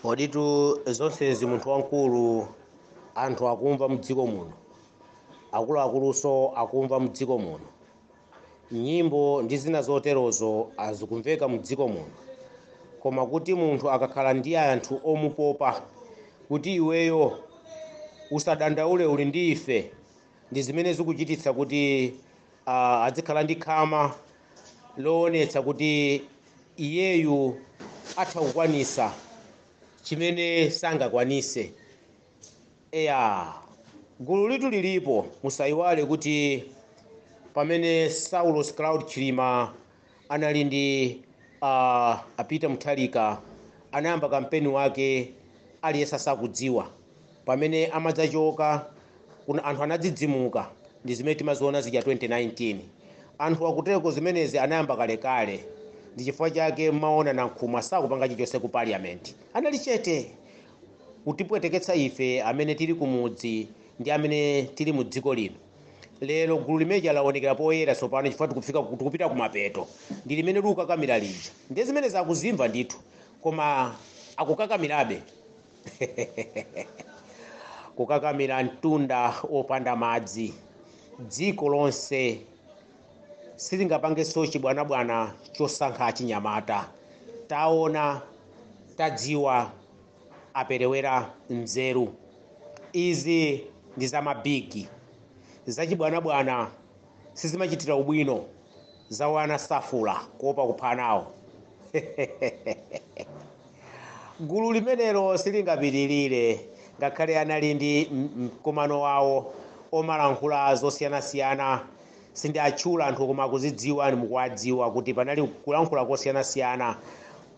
Koditu zonsezi munthu wamkulu anthu akumva mdziko muno, akuluakulunso akumva mdziko muno, nyimbo ndi zina zoterozo azikumveka mdziko muno, koma kuti munthu akakhala ndi anthu omupopa kuti iweyo usadandaule uli ndi ife, ndi zimene zikuchititsa kuti ah, adzikhala ndi khama loonetsa kuti iyeyu atha kukwanisa chimene sangakwanise eya gululitu lilipo musayiwale kuti pamene saulos klaus chilima anali ndi uh, a peter mutharika anayamba kampeni wake aliyense sakudziwa pamene amadzachoka kunja anthu anadzidzimuka ndi zimene timaziona zija 2019 anthu akutereko zimenezi anayamba kalekale ndi chifukwa chake mmaona nankhumwa sakupanga chilichonse ku parliament anali chete kutipweteketsa ife amene tili kumudzi ndi amene tili mu dziko lino lero gulu limeja laonekera poyera tsopano chifukwa tikufika ku- tikupita kumapeto ndi limene likukakamira lija ndiye zimenezo akuzimva ndithu koma akukakamirabe kukakamira mtunda opanda madzi dziko lonse silingapangenso chibwanabwana chosankha achinyamata taona tadziwa aperewera nzeru izi ndi za mabigi zachibwanabwana sizimachitira ubwino za wana safuula kuopa kupha anawo gulu limenelo silingapitirire ngakhale anali ndi m- mkumano wawo omalankhula zosiyanasiyana sindiatchula anthu koma akuzidziwa ndi mukuwadziwa kuti panali kulankhula kosiyanasiyana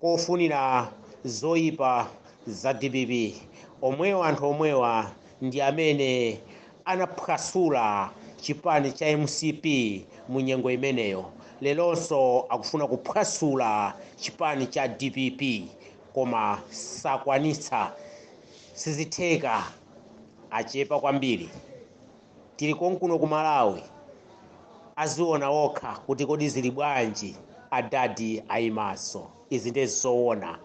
kofunira zoyipa za dpp omwewa anthu omwewa ndi amene anaphwasula chipani cha mcp mu nyengo imeneyo leronso akufuna kuphwasula chipani cha dpp koma sakwanitsa sizitheka achepa kwambiri tili konkuno ku malawi aziona okha kuti kodi zili bwanji adadi ayimaso Izi ndiye zoona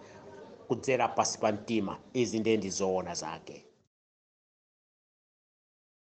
kudzera pasi pa mtima izi ndiye ndi zoona zake.